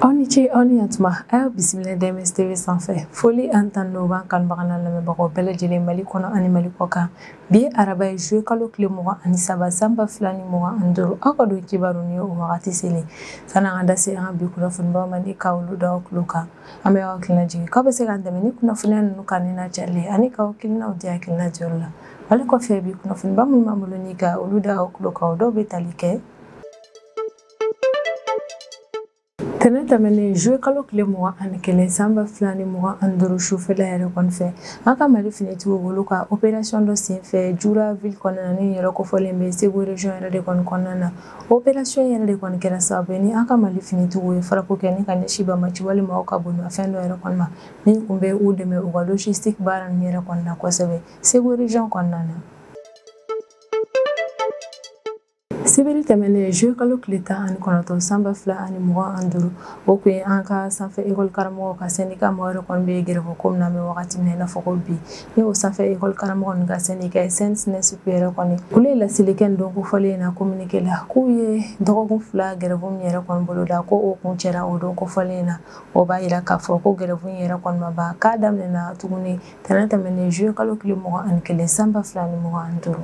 aw ni ce aw ni yantuma a y'aw bisimila dms tv sanfɛ foli ani tanu b'an kanubagaw n'an lamɛnbagaw bɛɛ lajɛlen mali kɔnɔ ani mali kɔkan bi ye araba ye juillet kalo tile mugan ani saba sanba fila ni mugan ani duuru aw ka don kibaru ni o wagati selen sanni an ka da se an ka bi kunnafonibaw ma ni ka olu da aw tulo kan an bɛ aw hakilina jigin k'aw bɛ se k'an dɛmɛ ni kunnafoniya ninnu kan ni n'a carili ani k'aw hakilinaw di hakilina jɔyɔrɔ la ale kɔfɛ bi kunnafoniba minnu b'an bolo ni ka olu da aw tulo kan o dɔw bɛ tali kɛ tɛnɛ tɛmɛnen juillet kalo tile mugan ani kelen san ba fila ni mugan ani duuru sufɛla yɛrɛ kɔni fɛ an ka mali finitigiw bolo ka operasiyɔn dɔ senfɛ jura ville kɔnɔna ni yɔrɔ kofɔlen bɛ segu region yɛrɛ de kɔni kɔnɔna na operasiyɔn yɛrɛ de kɔni kɛra sababu ye ni an ka mali finitigiw ye frappe kɛ ni ka ɲɛsin banbaanci walima ka bolimafɛn dɔ yɛrɛ kɔni ma min tun bɛ u dɛmɛ u ka logistique baara ninnu yɛrɛ kɔni na kosɛbɛ Segu region kɔnɔna na. Sibiri tɛmɛnen juillet kalo tile tan ani kɔnɔntɔn san ba fila ani mugan ani duuru o tun ye an ka sanfɛ ekɔli karamɔgɔw ka sɛndika mɔgɔ yɛrɛ kɔni bɛ gɛrɛfɛ ko min na an bɛ wagati min na i n'a fɔ ko bi ni o sanfɛ ekɔli karamɔgɔ ninnu ka sɛndika SNESUP yɛrɛ kɔni olu ye laseli kɛ nin don kofɔlen in na communiqué la k'u ye dɔgɔkun fila gɛrɛfɛ min yɛrɛ kɔni boloda ko o kuncɛra o don kofɔlen in na o b'a yira k'a fɔ ko gɛrɛfɛ in yɛrɛ kɔni ma ban k'a daminɛna tuguni tɛnɛ tɛmɛnen juillet kalo tile mugan ani kelen sanba fila ni mugan ani duuru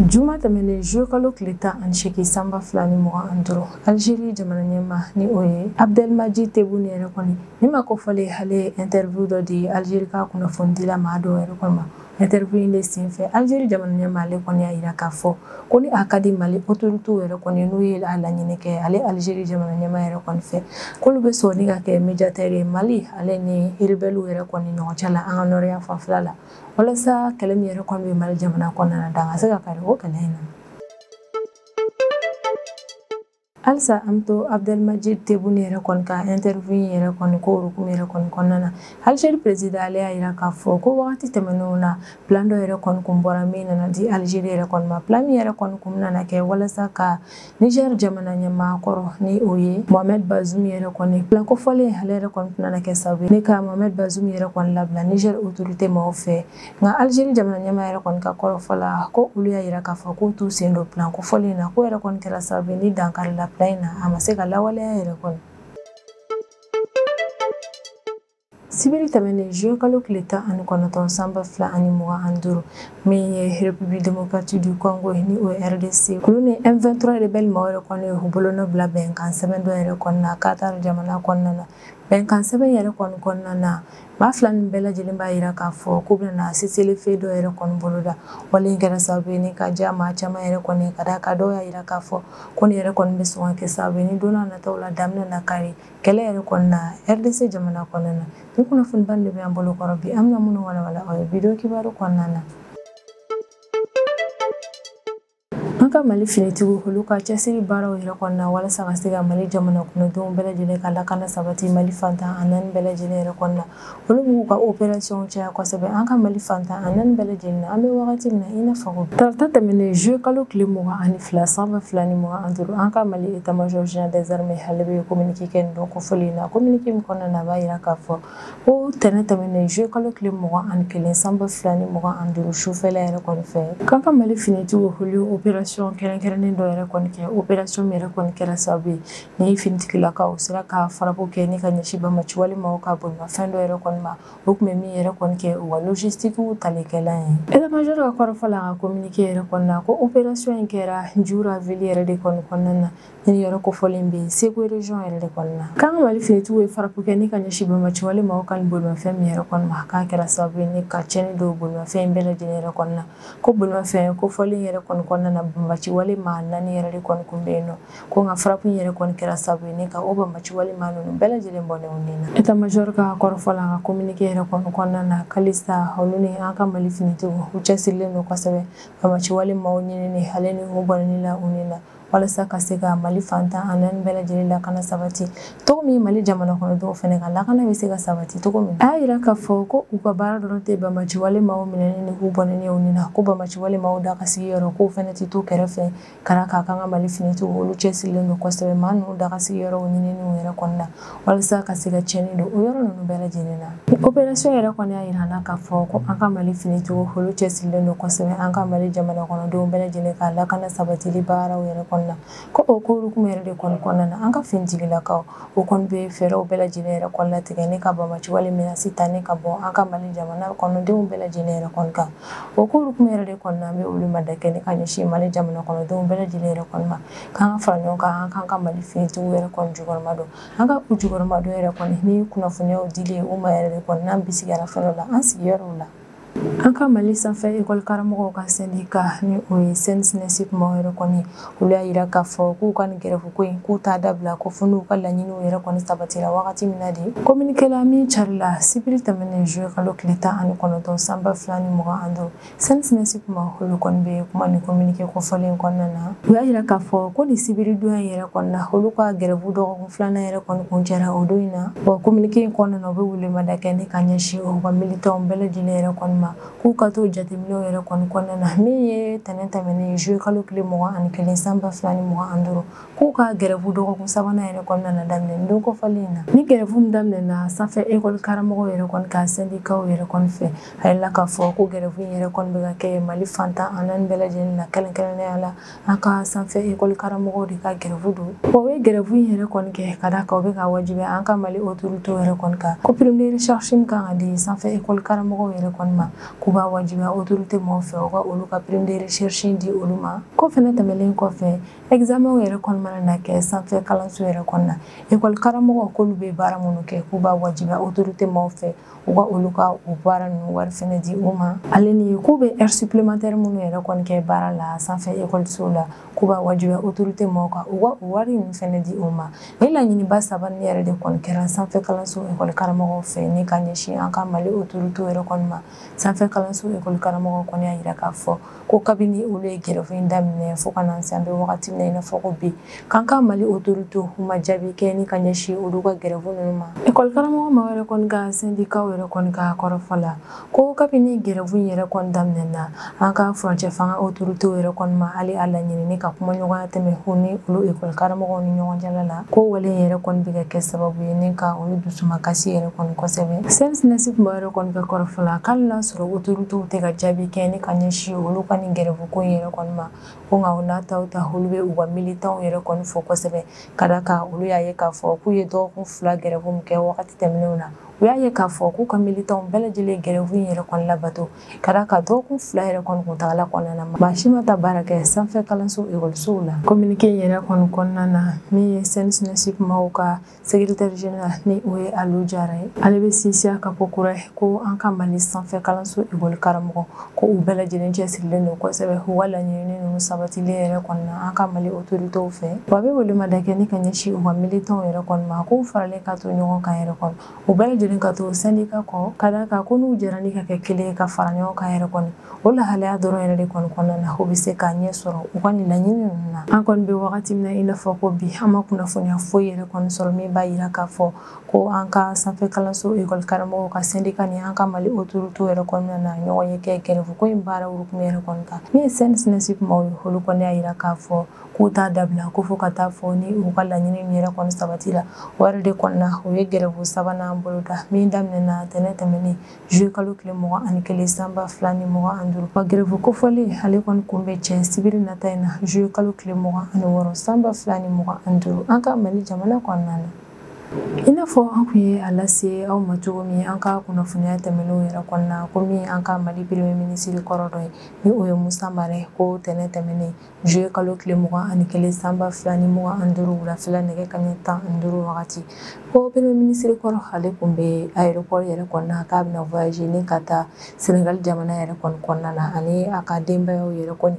juma tɛmɛnen juillet kalo tile tan ani segin sanba fila ni mugan ani duuru algérie jamana ɲɛmaa ni o ye abdelmadjid tebboune yɛrɛ kɔni ni maa kofɔlen ale ye interview dɔ di algérie ka kunnafonidila maa dɔw yɛrɛ kɔni ma Interview in de senfɛ algérie jamana ɲɛmaa ale kɔni y'a yira k'a fɔ ko ni a ka di mali autoritéw yɛrɛ kɔni n'u ye a laɲini kɛ ale algérie jamana ɲɛmaa yɛrɛ kɔni fɛ k'olu bɛ sɔn ni ka kɛ médiateur ye mali ale ni rebɛliw yɛrɛ kɔni ɲɔgɔn cɛ la an ka nɔrɔ yanfan fɛla la walasa kɛlɛ min yɛrɛ kɔni bɛ mali jamana kɔnɔna na dan ka se ka kari o kɛlɛ in na halisa an bɛ to abdelmadjid tebboune yɛrɛ kɔni ka interview in yɛrɛ kɔni ko hukumu yɛrɛ kɔni kɔnɔna na algérie président ale y'a yira k'a fɔ ko wagati tɛmɛnenw na plan dɔ yɛrɛ kɔni kun bɔra min nana di algérie yɛrɛ kɔni ma plan min yɛrɛ kɔni kun nana kɛ walasa ka niger jamana ɲɛmaa kɔrɔ ni o ye mohamed bazum yɛrɛ kɔni plan kofɔlen ale yɛrɛ kɔni tun nana kɛ sababu ye ni ka mohamed bazum yɛrɛ kɔni labila niger autorité maaw fɛ nka alizeri jamana ɲɛmaa yɛrɛ kɔni ka kɔrɔfɔ la ko olu y'a yira k'a fɔ k'u t'u sen don plan kofɔlen in na k'o yɛrɛ kɔni kɛra sababu ye ni dan karila plan in na a ma se ka lawaleya yɛrɛ kɔni sibiri tɛmɛnen juillet kalo tile tan ani kɔnɔntɔn sanba fila ani mugan ani duuru min ye république démocratique du congo ni o rdc olu ni m23 rebɛli maaw yɛrɛ kɔni y'u bolonɔ bila bɛnkan sɛbɛn dɔ yɛrɛ kɔni na qatar jamana kɔnɔna na bɛnkan sɛbɛn yɛrɛ kɔni kɔnɔna na maa fila nin bɛɛ lajɛlen b'a yira k'a fɔ k'u bɛna cessez-le-feu dɔ yɛrɛ kɔni bolo da wale in kɛra sababu ye ni ka diya maa caman yɛrɛ kɔni ka d'a kan dɔw y'a yira k'a fɔ ko nin yɛrɛ kɔni bɛ sɔn ka kɛ sababu ye ni don nataw la dan bɛna kari kɛlɛ yɛrɛ kɔni na rdc jamana kɔnɔna na nin kunnafoniba de bɛ an bolo kɔrɔ bi an bɛna minnu walawala aw ye bi don kibaru kɔnɔna na an ka mali finitigiw olu ka cɛsiri baaraw yɛrɛ kɔnɔna walasa ka se ka mali jamana kɔnɔdenw bɛɛ lajɛlen ka lakana sabati mali fan tan ani naani bɛɛ lajɛlen yɛrɛ kɔnɔna olu b'u ka operasiyɔnw caya kosɛbɛ an ka mali fan tan ani naani bɛɛ lajɛlen na an bɛ wagati min na i n'a fɔ tarata tɛmɛnen zuye kalo tile mugan ani fila san ba fila ni mugan ani duuru an ka mali état-major général des armées ale bɛ kominike kɛ nin don kofɔlen in na kominike min kɔnɔna na a b'a yira k'a fɔ ko tɛnɛn tɛmɛnen zuye kalo tile mugan ani kelen san ba fila ni mugan ani duuru sufɛla yɛrɛ kɔni fɛ k'an ka mali finitigiw olu ye operasiyɔn kɛrɛnkɛrɛnnen dɔ yɛrɛ kɔni kɛ operasiyɔn min yɛrɛ kɔni kɛra sababu ye ni finitigilakaw sera ka frappe kɛ ni ka ɲɛsin banbaanci wale maaw ka bolimafɛn dɔ yɛrɛ kɔni ma o tun bɛ min yɛrɛ kɔni kɛ u ka logistique talikɛla ye état-major ka kɔrɔfɔ la a ka kominike yɛrɛ kɔnɔna ko operasiyɔn in kɛra jura ville yɛrɛ de kɔni kɔnɔna na Nin yɔrɔ kofɔlen bɛ Segu region yɛrɛ de kɔni na. K'an ka Mali finitigiw ye frappe kɛ ni ka ɲɛsin banbaanci wale maaw ka nin bolimafɛn min yɛrɛ kɔni ma, k'a kɛra sababu ye ni ka tiɲɛni don bolimafɛn in bɛɛ lajɛlen yɛrɛ kɔni na. Ko bolimafɛn kofɔlen yɛrɛ kɔni kɔnɔna na, banbaanci wale maa naani yɛrɛ de kɔni tun bɛ yen nɔ. Ko nka frappe in yɛrɛ kɔni kɛra sababu ye ni ka o banbaanci wale maa ninnu bɛɛ lajɛlen bɔnɛ u ni na. Etat major ka kɔrɔfɔ la, a ka communiqué yɛrɛ kɔni kɔnɔna na, halisa olu ni an ka Mali finitigiw u cɛsirilen don kosɛbɛ banbaanci wale maaw ɲinini ale ni u bɔnɛni la u ni na. walasa ka se ka mali fan tan ani naani bɛɛ lajɛlen lakana sabati cogo min mali jamana kɔnɔdenw fɛnɛ ka lakana bɛ se ka sabati cogo min a y'a yira k'a fɔ ko u ka baara dɔrɔn tɛ banbaanci wale maaw minɛni ni k'u bɔnɛni u ni na ko banbaanci wale maaw dagasigiyɔrɔ k'o fɛnɛ tɛ to kɛrɛfɛ ka d'a kan k'an ka mali finitigiw olu cɛsirilen don kosɛbɛ maa ninnu dagasigiyɔrɔw ɲininiw yɛrɛ kɔnɔna walisa ka se ka tiɲɛni don o yɔrɔ ninnu bɛɛ lajɛlen na nin operasiyɔn yɛrɛ kɔni y'a yira an na k'a fɔ ko an ka mali finitigiw olu cɛsirilen don kosɛbɛ an ka mali jamana kɔnɔdenw bɛɛ lajɛlen ka lakana sabatili baaraw yɛrɛ kɔnɔna ko o ko hukumu yɛrɛ de kɔni kɔnɔna na an ka finitigilakaw o kɔni bɛ fɛɛrɛw bɛɛ lajɛlen yɛrɛ kɔni latigɛ ni ka banbaanci wale menace ta ni k'a bɔ an ka mali jamana kɔnɔdenw bɛɛ lajɛlen yɛrɛ kɔni kan o ko hukumu yɛrɛ de kɔnɔna an bɛ weleweleda kɛ ni ka ɲɛsin mali jamana kɔnɔdenw bɛɛ lajɛlen yɛrɛ kɔni ma k'an ka fara ɲɔgɔn kan k'an ka mali finitigiw yɛrɛ kɔni jukɔrɔma don an ka u jukɔrɔma don yɛrɛ kɔni ni kunnafoniyaw dili u ma yɛrɛ de kɔni n'an bisigiyara fɛn la an sigiyɔrɔw la an ka mali sanfɛ ekɔli karamɔgɔw ka sɛndika ni o ye CEN-SNESUP maaw yɛrɛ kɔni olu y'a yira k'a fɔ k'u ka nin gɛrɛfuko in k'u t'a dabila ko fo n'u ka laɲiniw yɛrɛ kɔni sabatira wagati min na de kominike la min carila sibiri tɛmɛnen zuye kalo tile tan ani kɔnɔntɔn san ba fila ni mugan ani duuru CEN-SNESUP maaw olu kɔni bɛ kuma ni kominike kofɔlen kɔnɔna na u y'a jira k'a fɔ ko nin sibiri don in yɛrɛ kɔnɔna na olu ka gɛrɛbu dɔgɔkun filanan yɛrɛ kɔni kuncɛra o don in na wa kominike in kɔnɔna na u bɛ welemada kɛ ni ka ɲɛsin u ka militanw bɛɛ lajɛlen yɛrɛ kɔni ma k'u ka to jateminɛw yɛrɛ kɔni kɔnɔna na min ye tɛnɛn tɛmɛnen juye kalo tile mugan ni kelen san ba fila ni mugan ni duuru k'u ka gɛrɛbu dɔgɔkun sabanan yɛrɛ kɔnɔna na daminɛ don kofɔlen in na ni gɛrɛbu min daminɛna sanfɛ ekɔli karamɔgɔw yɛrɛ kɔni ka sɛndikaw yɛrɛ kɔni fɛ a yirala k'a fɔ ko gɛrɛfu in yɛrɛ kɔni bɛ ka kɛ mali fan tan ni naani bɛɛ lajɛlen na kɛrɛnkɛrɛnnenya la an ka sanfɛ ekɔli karamɔgɔw de ka gɛrɛfu don u ye gɛrɛfu in yɛrɛ kɔni kɛ ka da kan u bɛ k'a wajibiya an ka mali otoritew yɛrɛ kɔni kan ko prime de recherche min kan ka di sanfɛ ekɔli karamɔgɔw yɛrɛ kɔni ma k'u b'a wajibiya otorite mɔgɔw fɛ u ka olu ka prime de recherche di olu ma k'o fɛnɛ tɛmɛlen kɔfɛ examenw yɛrɛ kɔni mana na kɛ sanfɛ kalanso yɛrɛ kɔnɔna ekɔli karamɔgɔw k'olu bɛ baara minnu kɛ k'u b'a wajibiya otorite mɔgɔw fɛ u ka olu ka o baara ninnu wari fɛnɛ di u ma ale ni k'u bɛ heure supplémentaire minnu yɛrɛ kɔni kɛ baara la sanfɛ ekɔlisow la k'u b'a wajibiya autorité mɔgɔw kan u ka o wari ninnu fɛnɛ di u ma nin laɲiniba saba nin yɛrɛ de kɔni kɛra sanfɛ kalanso ekɔli karamɔgɔw fɛ ni ka ɲɛsin an ka mali autorité yɛrɛ kɔni ma sanfɛ kalanso ekɔli karamɔgɔw kɔni y'a yira k'a fɔ ko kabini olu ye gɛrɛfu in daminɛ fo ka na se an bɛ wagati min na i n'a fɔ ko bi k'an ka mali autorité u ma jaabi kɛ ni ka ɲɛsin olu ka gɛrɛfu ninnu ma ekɔli karamɔgɔ maaw yɛrɛ kɔni ka sendikaw yɛrɛ kɔni ka kɔrɔfɔ la ko kabini gɛrɛfu in yɛrɛ kɔni daminɛna an ka furancɛ fanga autoritéw yɛrɛ kɔni ma hali a laɲini ni ka kumaɲɔgɔnya tɛmɛ u ni olu ekɔli karamɔgɔw ni ɲɔgɔn cɛla la ko wale in yɛrɛ kɔni bɛ ka kɛ sababu ye ni ka olu dusu makasi yɛrɛ kɔni kosɛbɛ CEN-SNESUP maaw yɛrɛ kɔni ka kɔrɔfɔ la k'ali n'a sɔrɔ otoritew tɛ ka jaabi kɛ ni ka ɲɛsin olu ka nin gɛrɛfu ko yɛrɛ kɔni ma ko nka o n'a ta o ta olu bɛ u ka militanw yɛrɛ kɔni fo kosɛbɛ ka da kan olu y'a ye k'a fɔ k'u ye dɔgɔkun fila gɛrɛfu min kɛ wagati tɛmɛnenw na u y'a ye k'a fɔ k'u ka militanw bɛɛ lajɛlen gɛrɛfu in yɛrɛ kɔni labato ka da kan dɔgɔkun fila yɛrɛ kɔni kuntagala kɔnɔna na maa si ma taa baara kɛ sanfɛ kalanso ekɔlisow la kominike in yɛrɛ kɔni kɔnɔna na min ye CEN-SNESUP maaw ka sekretɛri general ni o ye Alu Jara ye ale bɛ sinsin a kan ko kura ye ko an ka mali sanfɛ kalanso ekɔli karamɔgɔw ko u bɛɛ lajɛlen cɛsirilen don kosɛbɛ u ka laɲini ninnu sabatilen yɛrɛ kɔni na an ka mali otoritew fɛ wa a bɛ welemada kɛ ni ka ɲɛsin u ka militanw yɛrɛ kɔni ma k'u faralen ka to ɲɔgɔn kan yɛrɛ kɔni u bɛɛ lajɛlen ka to sendika kɔ ka da kan ko n'u jɛra ni ka kɛ kelen ye ka fara ɲɔgɔn kan yɛrɛ kɔni o lahalaya dɔrɔn yɛrɛ de kɔni kɔnɔna na u bɛ se k'a ɲɛ sɔrɔ u ka nin laɲini ninnu na an kɔni bɛ wagati min na i n'a fɔ ko bi an ma kunnafoniya foyi yɛrɛ kɔni sɔrɔ min b'a yira k'a fɔ ko an ka sanfɛ kalanso ekɔli karamɔgɔw ka sendika ni an ka mali otoritew yɛrɛ kɔnɔna na ɲɔgɔnye kɛ gɛrɛfuko in baara hukumu yɛrɛ kɔni kan min ye CEN-SNESUP maaw ye olu kɔni y'a yira k'a fɔ k'u t'a dabila ko fo ka taa fɔ ni u ka laɲini yɛrɛ kɔni sabatila o yɛrɛ de kɔni na u ye gɛrɛbu sabanan bolo da min daminɛna tɛnɛn tɛmɛnen juillet kalo tile mugan ani kelen san ba fila ni mugan ani duuru wa gɛrɛbu kofɔlen ale kɔni kun bɛ cɛ sibiri nata in na juillet kalo tile mugan ani wɔɔrɔ san ba fila ni mugan ani duuru an ka mali jamana kɔnɔna na i n'a fɔ an kun ye a lase aw ma cogo min an ka kunnafoniya tɛmɛnenw yɛrɛ kɔnɔna ko min an ka mali premier minisiri kɔrɔ dɔ ye ni o ye musa mara ko tɛnɛn tɛmɛnen juillet kalo tile mugan ani kelen san ba fila ni mugan ani duuru wulafɛla nɛgɛ kanɲɛ tan ani duuru wagati ko premier minisiri kɔrɔ ale kun bɛ aéroport yɛrɛ kɔnɔna k'a bɛna voyager ni ka taa senegal jamana yɛrɛ kɔni kɔnɔna na ani a ka denbayaw yɛrɛ kɔni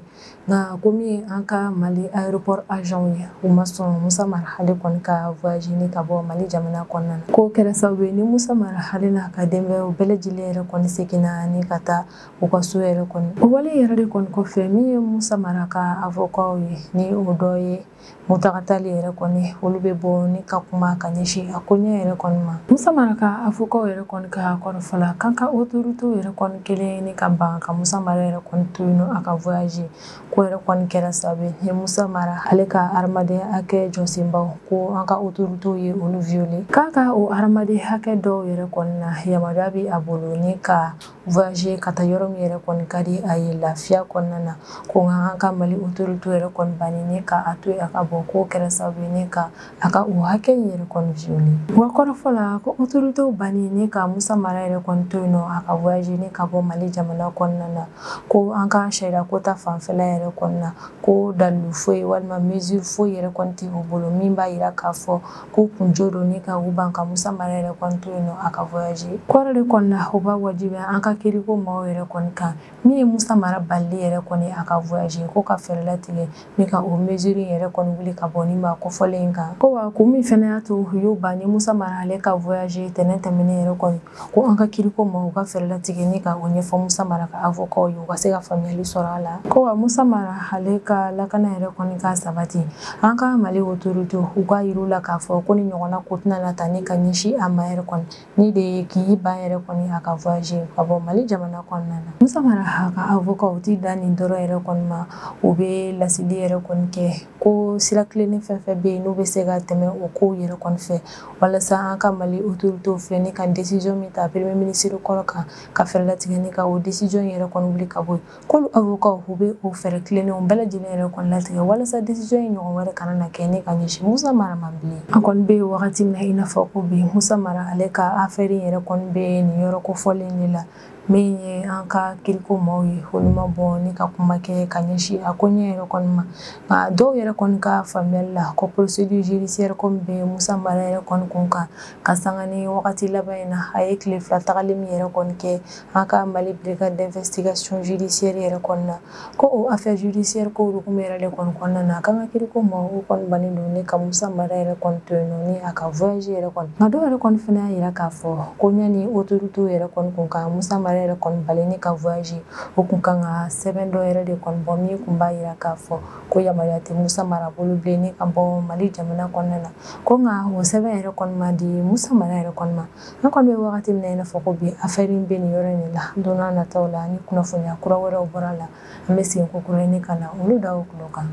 nka ko min ye an ka mali aéroport agentw ye u ma sɔn musa mara ale kɔni ka voyager ni ka bɔ mali jamana kɔnɔna na k'o kɛra sababu ye ni musa mara ale n'a ka denbayaw bɛɛ lajɛlen yɛrɛ kɔni seginna ni ka taa u ka so yɛrɛ kɔni o wale yɛrɛ de kɔni kɔfɛ min ye musa mara ka avɔkaw ye ni o dɔ ye muntaga tali yɛrɛ kɔni olu bɛ bɔ ni ka kuma ka ɲɛsin a koɲɛ yɛrɛ kɔni ma musa mara ka avɔkaw yɛrɛ kɔni ka kɔrɔfɔ la k'an ka otoritew yɛrɛ kɔni kɛlen ni ka ban ka musa mara yɛrɛ kɔni to yen nɔ a ka voyager k'o yɛrɛ kɔni kɛra sababu ye ni musa mara ale ka hadamadenya hakɛ jɔsenbaw ko an ka otoritew ye olu viole k'a ka o hadamaden hakɛ dɔw yɛrɛ kɔni na yamaruya bɛ a bolo ni ka voyager ka taa yɔrɔ min yɛrɛ kɔni ka di a ye lafiya kɔnɔna na ko nka an ka mali autorité yɛrɛ kɔni banni ni ka a to yen a ka bɔ k'o kɛra sababu ye ni ka a ka o hakɛ in yɛrɛ kɔni viole wa kɔrɔfɔ la ko autorité banni ni ka musa mara yɛrɛ kɔni to yen nɔ a ka voyager ni ka bɔ mali jamana kɔnɔna na ko an ka sariya ko ta fanfɛla yɛrɛ kɔni na ko dalilu foyi walima mesure foyi yɛrɛ kɔni tɛ u bolo min b'a yira k'a fɔ k'u kun jo don ni ka u ban ka musa mara yɛrɛ kɔni to yen nɔ a ka voyager kɔrɔ de kɔni na o b'a wajibiya an ka kiriko maaw yɛrɛ kɔni kan min ye musa mara balili yɛrɛ kɔni a ka voyager ko ka fɛɛrɛ latigɛ ni ka o mesure yɛrɛ kɔni wuli ka bɔ nin maa kofɔlen in kan ko wa kun min fɛnɛ y'a to u y'u ban ni musa mara ale ka voyager tɛnɛn tɛmɛnen yɛrɛ kɔni ko an ka kiriko maaw ka fɛɛrɛ latigɛ ni ka o ɲɛfɔ musa mara ka avɔkaw ye u ka se ka faamuyali sɔrɔ a la ko wa musa mara ale ka lakana yɛrɛ kɔni ka sabati an ka mali otoritew k'a yir'u la k'a fɔ ko nin ɲɔgɔnna ko tɛna na ta ni ka ɲɛsin a ma yɛrɛ kɔni nin de ye k'i ban yɛrɛ kɔni a ka voyager ka bɔ mali jamana kɔnɔna na musa mara ka avɔkaw tɛ dan nin dɔrɔn yɛrɛ kɔni ma u bɛ laseli yɛrɛ kɔni kɛ ko sira tilennen fɛn fɛn bɛ yen n'u bɛ se ka tɛmɛ o kow yɛrɛ kɔni fɛ walasa an ka mali otoritew filɛ ni ka desizɔn min ta premier minisiri kɔrɔ kan ka fɛɛrɛ latigɛ ni ka o desizɔn yɛrɛ kɔni wuli ka bɔ yen k'olu avɔkaw u bɛ o fɛɛrɛ tilennenw bɛɛ lajɛlen yɛrɛ kɔni latigɛ walasa desizɔn in ɲɔgɔn wɛrɛ kana na kɛ ni ka ɲɛsin musa mara ma bilen an kɔni bɛ wagati min na i n'a fɔ ko bi musa mara ale ka afɛri yɛrɛ kɔni bɛ nin yɔrɔ kofɔlen de la min ye an ka kiriko maaw ye olu ma bɔ ni ka kuma kɛ ka ɲɛsin a ko ɲɛ yɛrɛ kɔni ma nka dɔw yɛrɛ kɔni ka faamuyali la ko procédure judiciaire ko min bɛ musa mara yɛrɛ kɔni kun kan ka sanga ni wagati laban in na a ye tile fila tagali min yɛrɛ kɔni kɛ an ka mali brigade d'investigation judiciaire yɛrɛ kɔni na ko o affaire judiciaire ko hukumu yɛrɛ de kɔni kɔnɔna na k'an ka kiriko maaw kɔni bannen don ni ka musa mara yɛrɛ kɔni to yen nɔ ni a ka voyager yɛrɛ kɔni nka dɔw yɛrɛ kɔni fana y'a yira k'a fɔ ko ɲani autoritew yɛrɛ kɔni kun ka musa mara yɛrɛ kɔni bali ni ka voyager o kun kan ka sɛbɛn dɔ yɛrɛ de kɔni bɔ min kun b'a yira k'a fɔ ko yamaruya tɛ musa mara bolo bilen ni ka bɔ mali jamana kɔnɔna na ko nka o sɛbɛn yɛrɛ kɔni ma di musa mara yɛrɛ kɔni ma an kɔni bɛ wagati min na i n'a fɔ ko bi affaire in bɛ nin yɔrɔ in de la don n'a nataw la ni kunnafoniya kura wɛrɛw bɔra la an bɛ segin kokura ni ka na olu da aw tulo kan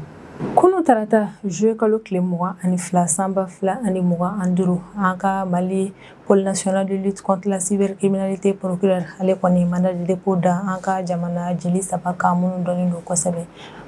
kunu tarata juillet kalo tile mugan ani fila san ba fila ani mugan ani duuru an ka mali pôle national de lutte contre la cybercriminalité procureur ale kɔni mandat de dépôt da an ka jamana jeli saba kan minnu dɔnnen don kosɛbɛ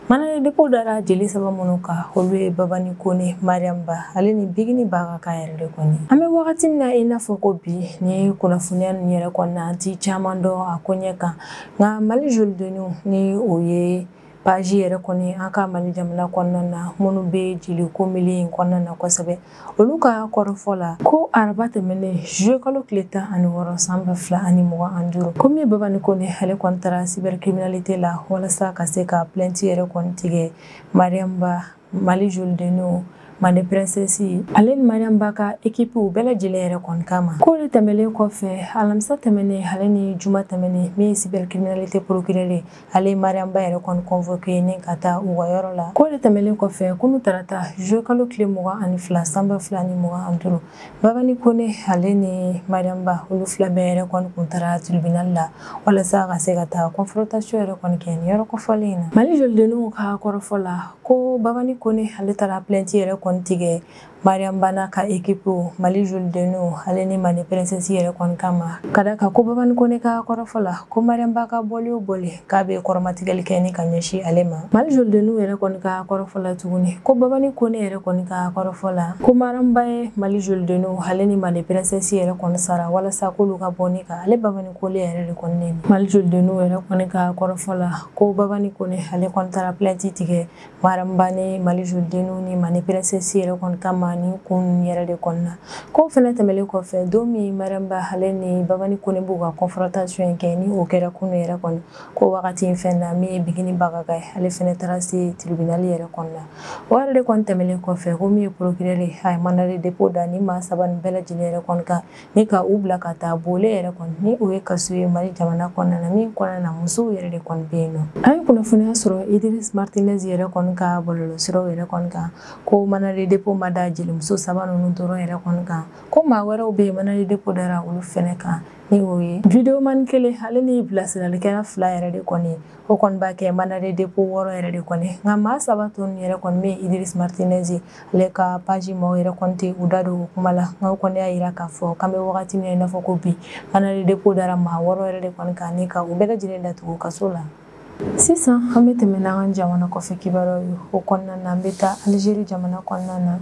Mandat de dépôt dara jeli saba minnu kan olu ye babani kone mariam ba ale ni bigini bagaga yɛrɛ de kɔni an bɛ wagati min na i n'a fɔ ko bi ni kunnafoniya nin yɛrɛ kɔnɔna an tɛ caman dɔn a ko ɲɛ kan nka mali jolidenninw ni o ye page yɛrɛ kɔni an ka mali jamana kɔnɔna na minnu bɛ jeliko milieu in kɔnɔna na kosɛbɛ olu ka kɔrɔfɔ la ko araba tɛmɛnen juillet kalo tile tan ani wɔɔrɔ san ba fila ani mugan ani duuru ko min ye babani kone ale kɔni taara cybercriminalité la walasa ka se ka plainte yɛrɛ kɔni tigɛ mariam ba mali jolidenninw mande princesse ale ni mariam ba ka ekipiw bɛɛ lajɛlen yɛrɛ kɔni kama ko de tɛmɛlen kɔfɛ alamisa tɛmɛnen ale ni juma tɛmɛnen min ye cybercriminalité procureur ale ye mariam ba yɛrɛ kɔni convoqué ni ka taa u ka yɔrɔ la ko de tɛmɛlen kɔfɛ kunu tarata juillet kalo tile mugan ani fila san ba fila ni mugan ani duuru babani kone ale ni mariam ba olu fila bɛɛ yɛrɛ kɔni kun taara tribunal la walasa ka se ka taa confrontation yɛrɛ kɔni kɛ nin yɔrɔ kofɔlen in na mali jolidenninw ka kɔrɔfɔ la ko babani kone ale taara plainte yɛrɛ kɔni tigɛ mariam ba n'a ka équipe mali jolidenninw ale ni mande princesse yɛrɛ kɔni kama ka da kan ko babani kone ka kɔrɔfɔ la ko mariam ba ka bɔli o bɔli k'a bɛ kɔrɔmatigɛli kɛ ni ka ɲɛsin ale ma mali jolidenninw yɛrɛ kɔni ka kɔrɔfɔ la tuguni ko babani kone yɛrɛ kɔni ka kɔrɔfɔ la ko mariam ba ye mali jolidenninw ale ni mande princesse yɛrɛ kɔni sara walasa k'olu ka bɔ ni ka ale babani kone yɛrɛ de kɔni neni mali jolidenninw yɛrɛ kɔni ka kɔrɔfɔ la ko babani kone ale kɔni taara plainte tigɛ mariam ba ni mali jolidenninw ni mande princesse yɛrɛ kɔni kama ni kun yɛrɛ de kɔni na ko fɛnɛ tɛmɛlen kɔfɛ don min mariam ba ale ni babani kone b'u ka confrontation in kɛ ni o kɛra kunu yɛrɛ kɔni ko wagati in fɛn na min ye bigini bagaga ye ale fɛnɛ taara se tribunal yɛrɛ kɔni na o yɛrɛ de kɔni tɛmɛlen kɔfɛ ko min ye procureur a ye mandat de dépôt da ni maa saba nin bɛɛ lajɛlen yɛrɛ kɔni kan ni ka u bila ka taa bole yɛrɛ kɔni ni o ye kaso ye mali jamana kɔnɔna na min kɔnɔna na musow yɛrɛ de kɔni bɛ yen nɔ an ye kunnafoniya sɔrɔ idris martinez yɛrɛ kɔni ka bɔlɔlɔsiraw yɛrɛ kɔni kan ko mandat de dépôt ma da jelimuso saba ninnu dɔrɔn yɛrɛ kɔni kan ko maa wɛrɛw bɛ yen mandat de dépôt dara olu fɛnɛ kan ni o ye videomani kelen ale ni bilasiralikɛla fila yɛrɛ de kɔni o kɔni b'a kɛ mandat de dépôt wɔɔrɔ yɛrɛ de kɔni nka maa saba tɔ yɛrɛ kɔni bɛ idris martinez ale ka paji maaw yɛrɛ kɔni tɛ u da don o kuma la nka kɔni y'a jira k'a fɔ k'an bɛ wagati min na i n'a fɔ ko bi mandat de dépôt dara maa wɔɔrɔ yɛrɛ de kɔni kan ni ka u bɛɛ lajɛlen datugu kaso la sisan an bɛ tɛmɛ n'an ka jamana kɔfɛ kibaruyaw ye o kɔnɔna na an bɛ taa alizeri jamana kɔnɔna na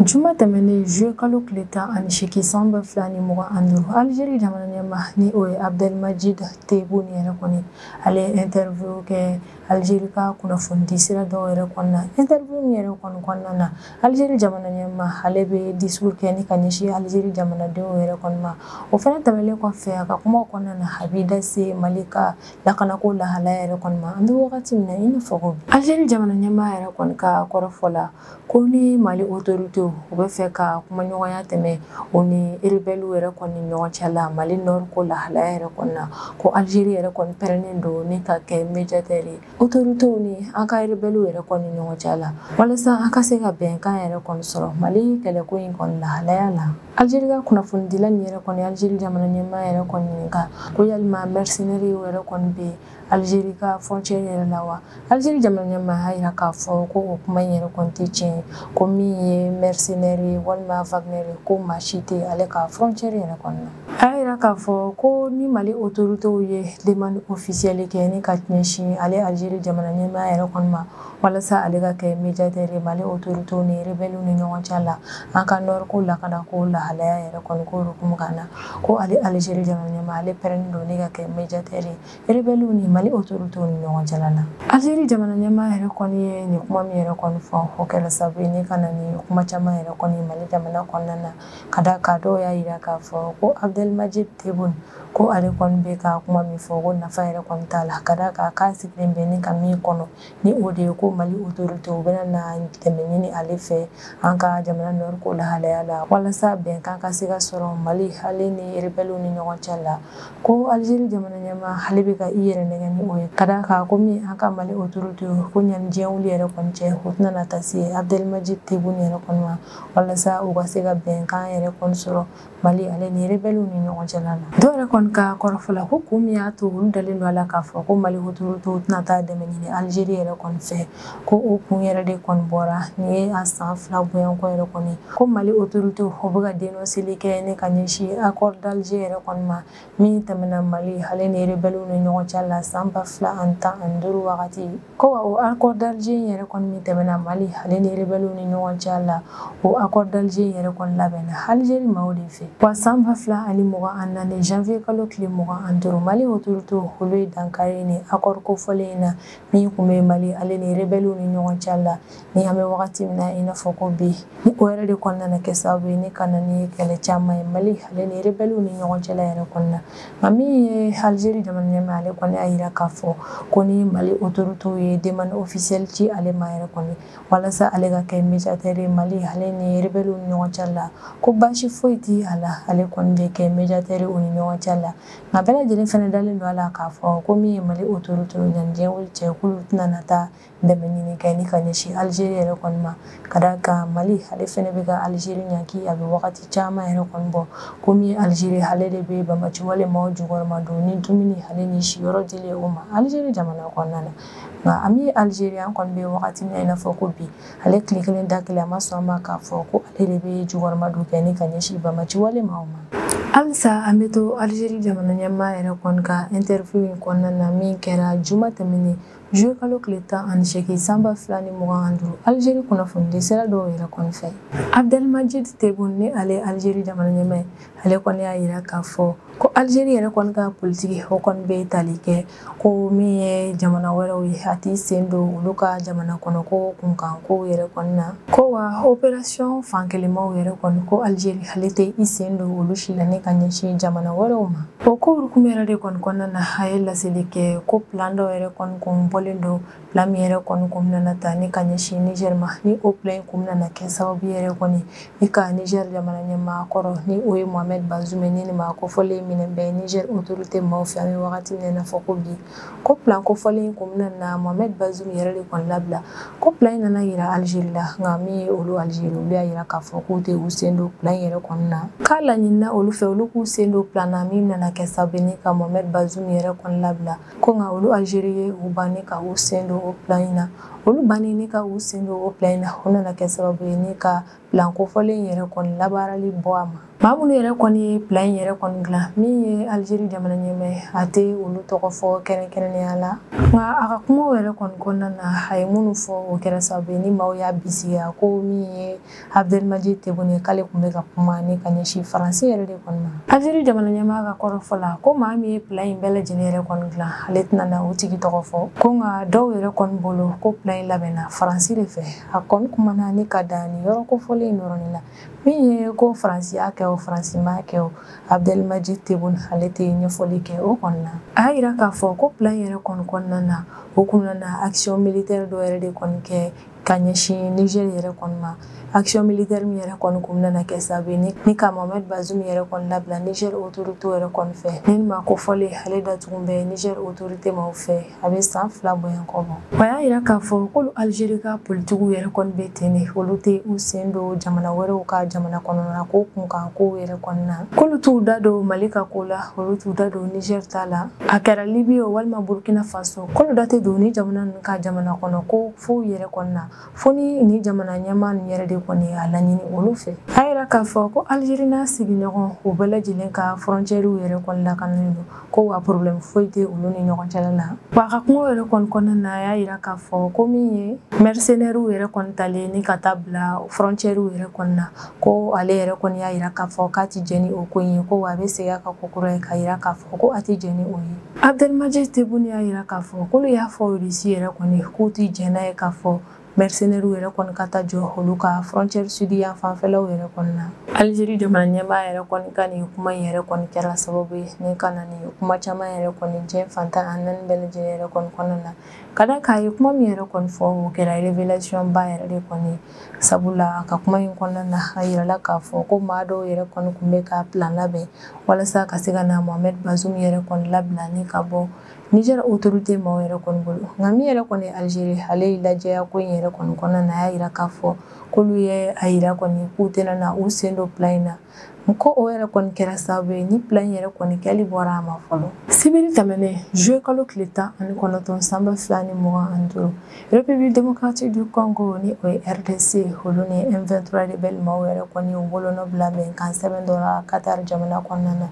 juma tɛmɛnen juillet kalo tile tan ani seegin san ba fila ni mugan ani duuru algérie jamana ɲɛmaa ni o ye abdelmadjid tebboune yɛrɛ kɔni ale ye interview kɛ algérie ka kunnafonidi sira dɔw yɛrɛ kɔnɔna interview min yɛrɛ kɔni kɔnɔna na algérie jamana ɲɛmaa ale bɛ discours kɛ ni ka ɲɛsin algérie jamanadenw yɛrɛ kɔni ma o fana tɛmɛlen kɔfɛ a ka kumaw kɔnɔna na a b'i da se mali ka lakanako lahalaya yɛrɛ kɔni ma an bɛ wagati min na i n'a fɔ ko bi algérie jamana ɲɛmaa yɛrɛ kɔni ka kɔrɔfɔ la ko ni mali otorite u bɛ fɛ ka kumaɲɔgɔnya tɛmɛ o ni eribɛli yɛrɛ kɔni ni ɲɔgɔn cɛ la mali nɔri ko lahalaya yɛrɛ kɔnɔna na ko alizeri yɛrɛ kɔni pɛrɛnnen don ni ka kɛ mejatɛri ye otoritew ni an ka eribɛliw yɛrɛ kɔni ni ɲɔgɔn cɛ la walasa an ka se ka bɛnkan yɛrɛ kɔni sɔrɔ mali kɛlɛko in kɔni lahalaya la alizeri ka kunnafonidila ni yɛrɛ kɔni alizeri jamana ɲɛmaa yɛrɛ kɔni ɲininka ko yalima mɛrisinɛri yɛrɛ kɔni bɛ Algérie ka frontière yɛrɛ la wa Algérie jamana ɲɛmaa y'a jira k'a fɔ ko o kuma in yɛrɛ kɔni tɛ tiɲɛ ye ko min ye mercenaire ye walima Wagner ye ko maa si tɛ ale ka frontière yɛrɛ kɔni na a y'a jira k'a fɔ ko ni Mali autorités ye demande officielle kɛ ni ka ɲɛsin ale Algérie jamana ɲɛmaa yɛrɛ kɔni ma walasa ale ka kɛ médiateur ye Mali autorités ni rebelles ni ɲɔgɔn cɛ la an ka nord ko lakanako lahalaya yɛrɛ kɔni ko hukumu kan na ko ale Algérie jamana ɲɛmaa ale pɛrɛnnen don ni ka kɛ médiateur ye rebelles ni Mali autorités ni ɲɔgɔn cɛ la Algérie jamana ɲɛmaa yɛrɛ kɔni ye nin kuma min yɛrɛ kɔni fɔ o kɛra sababu ye ni ka na ni kuma caman yɛrɛ kɔni Mali jamana kɔnɔna na ka d'a kan dɔw y'a jira k'a fɔ ko Abdelmadjid Tebboune ko ale kɔni bɛ ka kuma min fɔ ko nafa yɛrɛ kɔni t'a la ka d'a kan k'a sigilen bɛ ni ka min kɔnɔ ni o de ye ko mali autorité u bɛna na dɛmɛ ɲini ale fɛ an ka jamana nɔri ko lahalaya la walasa bɛnkan ka se ka sɔrɔ mali ale ni rebɛliw ni ɲɔgɔn cɛ la ko algérie jamana ɲɛmaa ale bɛ ka i yɛrɛ nɛgɛn ni o ye ka d'a kan ko min an ka mali autorité ko ɲani diɲɛ wuli yɛrɛ kɔni cɛ u tɛna na taa se abdelmadjid tebboune yɛrɛ kɔni ma walasa u ka se ka bɛnkan yɛrɛ kɔni sɔrɔ Mali ale ni rebelles ni ɲɔgɔn cɛ la la. Dɔw yɛrɛ kɔni ka kɔrɔfɔ la ko kun min y'a to olu dalen don a la k'a fɔ ko Mali autorités tɛna taa dɛmɛ ɲini Algérie yɛrɛ kɔni fɛ ko o kun yɛrɛ de kɔni bɔra nin ye a san fila bɔɲɔgɔnko yɛrɛ kɔni ko Mali autorités o bɛ ka denonseli kɛ ni ka ɲɛsin accord d'Alger yɛrɛ kɔni ma min tɛmɛna mali ale ni rebɛliw ni ɲɔgɔn cɛ la san ba fila ani tan ani duuru wagati ko wa o accord d'alger in yɛrɛ kɔni min tɛmɛna mali ale ni rebɛliw ni ɲɔgɔn cɛ la o accord d'alger in yɛrɛ kɔni labɛnna algérie maaw de fɛ wa san ba fila ani mugan ani naani janvier kalo tile mugan ani duuru mali autorités olu ye dankari nin accord kofɔlen in na min kun bɛ mali ale ni rebɛliw ni ɲɔgɔn cɛ la ni an bɛ wagati min na i n'a fɔ ko bi ni o yɛrɛ de kɔni nana kɛ sababu ye ni ka na ni kɛlɛ caman ye mali ale ni rebɛliw ni ɲɔgɔn cɛla yɛrɛ kɔnɔna nka min ye algérie jamana ɲɛmaa ale kɔni y'a yira k'a fɔ ko ni mali autoritéw ye demande officielle ci ale ma yɛrɛ kɔni walasa ale ka kɛ médiateur ye mali ale ni rebɛliw ni ɲɔgɔn cɛla la ko baasi foyi tɛ a la ale kɔni bɛ kɛ médiateur u ni ɲɔgɔn cɛla la nka bɛɛ lajɛlen fana dalen don a la k'a fɔ ko min ye mali autoritéw yanni diɲɛ wuli cɛ k'olu tɛna na taa dɛmɛ ɲini kɛ ni ka ɲɛsin alizeri yɛrɛ kɔni ma ka da kan mali ale fɛnɛ bɛ ka alizeri ɲaki a bɛ wagati caman yɛrɛ kɔni bɔ komi alizeri ale de bɛ banbaanci walemaw jukɔrɔma don ni dumuni ale ni siyɔrɔ dilen o ma alizeri jamana kɔnɔna na nka an bɛ alizeri an kɔni bɛ wagati min na i n'a fɔ ko bi ale tile kelen da kelen a ma sɔn a ma k'a fɔ ko ale de bɛ jukɔrɔma don kɛ ni ka ɲɛsin banbaanci walemaw ma halisa an bɛ to alizeri jamana ɲɛmaa yɛrɛ kɔni ka interview in kɔnɔna na min kɛra juma tɛmɛnen Juillet kalo tile tan ani seegin san ba fila ni mugan ani duuru Algérie kunnafonidi sira dɔw yɛrɛ kɔni fɛ Abdelmadjid Tebboune ni ale ye Algérie jamana ɲɛmaa ye ale kɔni y'a jira k'a fɔ ko Algérie yɛrɛ kɔni ka politiki o kɔni bɛ tali kɛ ko min ye jamana wɛrɛw ye a t'i sen don olu ka jamana kɔnɔko kunkankow yɛrɛ kɔni na ko wa opération fankelenmaw yɛrɛ kɔni ko Algérie ale tɛ i sen don olu si la ni ka ɲɛsin jamana wɛrɛw ma o ko hukumu yɛrɛ de kɔni kɔnɔna na a ye laseli kɛ ko plan dɔ yɛrɛ kɔni kun bɔlen don plan min yɛrɛ kɔni kun bɛna ta ni ka ɲɛsin nizɛri ma ni o plan in kun bɛna kɛ sababu yɛrɛ kɔni ni ka nizɛri jamana ɲɛmaa kɔrɔ ni o ye mohamɛd bazum ni nin maa kofɔlen minɛnen bɛ nizɛri otorite maaw fɛ an bɛ wagati min na i n'a fɔ ko bi ko plan kofɔlen in kun bɛna na mohamɛd bazum yɛrɛ de kɔni labila ko plan in nana yira alizeri la nka min ye olu alizeri olu y'a yira k'a fɔ k'u tɛ u sen don plan in yɛrɛ kɔni na k'a laɲinina olu fɛ olu k'u sen don plan na min nana kɛ sababu ni ka mohamɛd bazum yɛrɛ kɔni labila ko nka olu alizeri ye u ban ni ka u sen don o plan in na olu bannen ni ka u sen don o plan in na o nana kɛ sababu ye ni ka plan kofɔlen yɛrɛ kɔni labaarali bɔ a ma maa minnu yɛrɛ kɔni ye plan in yɛrɛ kɔni dilan min ye algérie jamana ɲɛmaa a tɛ olu tɔgɔ fɔ kɛrɛnkɛrɛnnenya la nka a ka kumaw yɛrɛ kɔni kɔnɔna na a ye minnu fɔ o kɛra sababu ye ni maaw y'a bisigiya ko min ye abdelmadjid tebboune k'ale tun bɛ ka kuma ni ka ɲɛsin faransi yɛrɛ de kɔni ma algérie jamana ɲɛmaa ka kɔrɔfɔ la ko maa min ye plan in bɛɛ lajɛlen yɛrɛ kɔni dilan ale tɛna na o tigi tɔgɔ fɔ ko nka dɔw yɛrɛ kɔni bolo ko plan in labɛnna faransi de fɛ a kɔni kumana ni ka dan ni yɔrɔ kofɔlen in dɔrɔn la min ye ko faransi y'a kɛ o faransi m'a kɛ o abdelmadjid tebboune ale tɛ ɲɛfɔli kɛ o kɔnɔna a y'a yira k'a fɔ ko plan yɛrɛ kɔni kɔnɔna na o kun nana action militaire dɔ yɛrɛ de kɔni kɛ ka ɲɛsin niger yɛrɛ kɔni ma action militaire min yɛrɛ kɔni kun nana kɛ sababu ye ni ka mohamed bazoum yɛrɛ kɔni labila niger autorité yɛrɛ kɔni fɛ ni maa kofɔlen ale datugun bɛ niger autorité maaw fɛ a bɛ san fila bɔɲɔgɔnko bɔ a y'a yira k'a fɔ k'olu algérie ka politikiw yɛrɛ kɔni bɛ ten de olu tɛ u sen don jamana wɛrɛw ka jamana kɔnɔna ko kunkan kow yɛrɛ kɔnɔna k'olu t'u da don mali ka ko la olu t'u da don niger ta la a kɛra libye o walima burkina faso k'olu da tɛ don ni jamana ninnu ka jamana kɔnɔ ko fɔw yɛrɛ kɔnɔna fo ni ni jamana ɲɛmaa ninnu yɛrɛ de kɔni y'a laɲini olu fɛ a y'a yira k'a fɔ ko algérie n'a sigiɲɔgɔn u bɛɛ lajɛlen ka frontièrew yɛrɛ kɔni lakananen don ko wa problème foyi tɛ olu ni ɲɔgɔn cɛla la wa a ka kuma yɛrɛ kɔni kɔnɔna na a y'a yira k'a fɔ ko min ye mercenairew yɛrɛ kɔni talen ni ka taa bila frontièrew yɛrɛ kɔni na ko ale yɛrɛ kɔni y'a yira k'a fɔ k'a tɛ jɛn ni o ko in ye ko wa a bɛ segin a kan kokura ye k'a yira k'a fɔ ko a tɛ jɛn ni o ye Abdelmadjid Tebboune y'a yira k'a fɔ k'olu y'a fɔ Russie yɛrɛ kɔni k'u tɛ jɛn n'a ye k'a fɔ mercenaires yɛrɛ kɔni ka taa jɔ olu ka frontière sud yan fanfɛlaw yɛrɛ kɔni na. Algérie jamana ɲɛmaa yɛrɛ kɔni ka nin kuma in yɛrɛ kɔni kɛra sababu ye ni ka na ni kuma caman yɛrɛ kɔni diɲɛ fan tan ni naani bɛɛ lajɛlen yɛrɛ kɔni kɔnɔna na ka d'a kan a ye kuma min yɛrɛ kɔni fɔ o kɛra révélation ba yɛrɛ de kɔni ye. sabula a ka kuma in kɔnɔna na a yirala k'a fɔ ko maa dɔw yɛrɛ kɔni tun bɛ ka plan labɛn walasa ka se ka na mohamed bazoum yɛrɛ kɔni labila ni ka bɔ niger autorité maaw yɛrɛ kɔni bolo nka min yɛrɛ kɔni algérie ale ye lajɛya ko in yɛrɛ kɔni kɔnɔna na a y'a yira k'a fɔ k'olu ye a yira kɔni k'u tɛna na u sen don plan in na n ko o yɛrɛ kɔni kɛra sababu ye ni plan yɛrɛ kɔni kɛli bɔra a ma fɔlɔ sibiri tɛmɛnen juillet kalo tile tan ani kɔnɔntɔn san ba fila ni mugan ani duuru republique démocratique du congo ni o ye rdc olu ni m23 rebelle maaw yɛrɛ kɔni u bolonɔ bila bɛnkan sɛbɛn dɔ la qatar jamana kɔnɔna na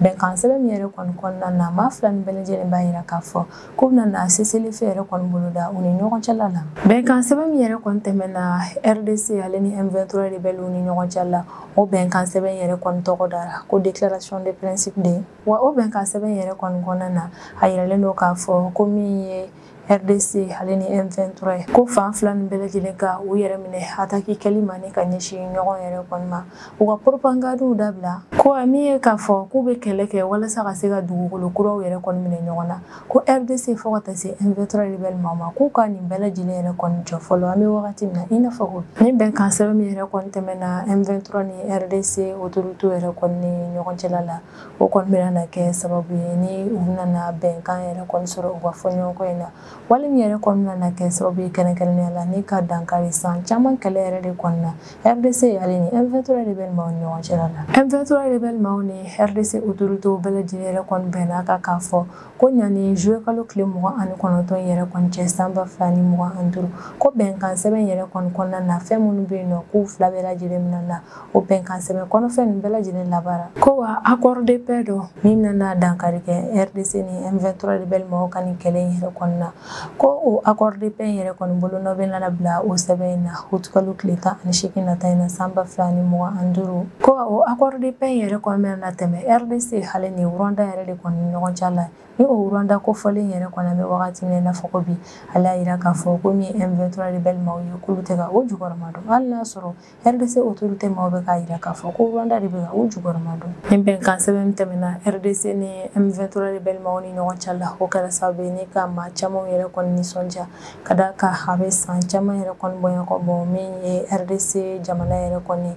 bɛnkan sɛbɛn min yɛrɛ kɔni kɔnɔna na maa fila nin bɛɛ lajɛlen b'a yira k'a fɔ k'u bɛna na cessez-le-feu yɛrɛ kɔni boloda u ni ɲɔgɔn cɛla la bɛnkan sɛbɛn min yɛrɛ kɔni tɛmɛna rdc ale ni m23 rebelle u ni ɲɔgɔn cɛla la o bɛnkan sɛbɛn yɛrɛ kɔni tɔgɔ dara ko déclaration de principe de wa o bɛnkan sɛbɛn yɛrɛ kɔni kɔnɔna na a yiralen don k'a fɔ ko min ye rdc ale ni m23 ye ko fan fila nin bɛɛ lajɛlen ka u yɛrɛ minɛ ataki kɛli ma ni ka ɲɛsin ɲɔgɔn yɛrɛ kɔni ma u ka propagandiw dabila ko min ye k'a fɔ k'u bɛ kɛlɛ kɛ walasa ka se ka dugukolo kuraw yɛrɛ kɔni minɛ ɲɔgɔn na ko rdc fo ka taa se m23 rebɛli maaw ma k'u ka nin bɛɛ lajɛlen yɛrɛ kɔni jɔ fɔlɔ an bɛ wagati min na i n'a fɔ ko ni bɛnkan sɛbɛn min yɛrɛ kɔni tɛmɛna m23 ni rdc autoritew yɛrɛ kɔni ni ɲɔgɔn cɛla la o kɔni bɛna na kɛ sababu ye ni u nana bɛnkan yɛrɛ kɔni sɔrɔ u ka fɔɲɔgɔnkɔ in na wali min yɛrɛ kɔni nana kɛ sababu ye kɛrɛnkɛrɛnnenya la ni ka dankari san caman kɛlɛ yɛrɛ de kɔni na rdc ale ni M23 rebelle maaw ni ɲɔgɔn cɛla la M23 rebelle maaw ni rdc autorités bɛɛ lajɛlen yɛrɛ kɔni bɛnna kan k'a fɔ ko ɲani juillet kalo tile mugan ani kɔnɔntɔn yɛrɛ kɔni cɛ san ba fila ni mugan ani duuru ko bɛnkan sɛbɛn yɛrɛ kɔni kɔnɔna na fɛn minnu bɛ yen nɔ k'u fila bɛɛ lajɛlen bɛna na o bɛnkan sɛbɛn kɔnɔfɛn ninnu bɛɛ lajɛlen labaara ko wa accord de paix dɔ min nana dankari kɛ rdc ni m23 rebelle mɔgɔw ka nin kɛlɛ in yɛrɛ kɔni na ko o accord de paix in yɛrɛ kɔni bolonɔ bɛna na bila o sɛbɛn in na août kalo tile tan ani seegin nata in na san ba fila ni mugan ani duuru ko o accord de paix in yɛrɛ kɔni bɛna tɛmɛ rdc ale ni rwanda yɛrɛ de kɔni ni ɲɔgɔn cɛ la ni o rwanda kofɔlen yɛrɛ kɔni an bɛ wagati min na i n'a fɔ ko bi ale y'a jira k'a fɔ ko min ye M23 rebelle maaw ye k'olu tɛ ka o jukɔrɔma don hali n'a sɔrɔ rdc autorité maaw bɛ k'a jira k'a fɔ ko rwanda de bɛ ka u jukɔrɔma don ni bɛnkan sɛbɛn min tɛmɛna rdc ni m23 rebelle maaw ni ɲɔgɔn cɛ la o kɛra sababu ye ni ka maa camanw yɛrɛ kɔni nisɔndiya ka da kan a bɛ san caman yɛrɛ kɔni bɔɲɔgɔn bɔ min ye rdc jamana yɛrɛ kɔni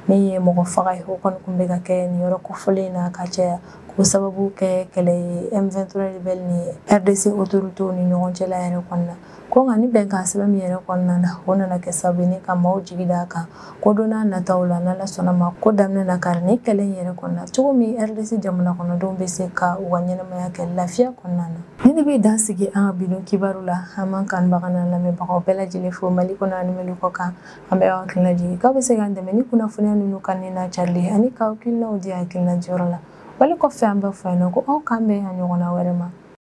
min ye mɔgɔ faga ye o kɔni tun bɛ ka kɛ nin yɔrɔ kofɔlen na ka caya o sababu kɛ kɛlɛ ye m23 rebelle ni rdc autoritew ni ɲɔgɔn cɛla yɛrɛ kɔnɔna Ko nka ni bɛnkan sɛbɛn min yɛrɛ kɔni nana o nana kɛ sababu ye ka maaw jigi d'a kan ko don n'a nataw la n'ala sɔnna ma ko dan bɛna na kari nin kɛlɛ in yɛrɛ kɔni na cogo min rdc jamana kɔnɔdenw bɛ se ka u ka ɲɛnamaya kɛ lafiya kɔnɔna na nin de bɛ dan sigi an ka bi don kibaru la an b'an kanubaga n'an lamɛnbagaw bɛɛ lajɛlen fo mali kɔnɔ ani mali kɔ kan an bɛ aw hakilina jigin k'aw bɛ se k'an dɛmɛ ni kunnafoniya ninnu kanuni n'a carili ani k'aw hakilinaw di hakilina jɔyɔrɔ la wali kɔfɛ an bɛ fɔ yan nɔ ko aw k'an bɛn a ɲɔgɔnna wɛrɛ ma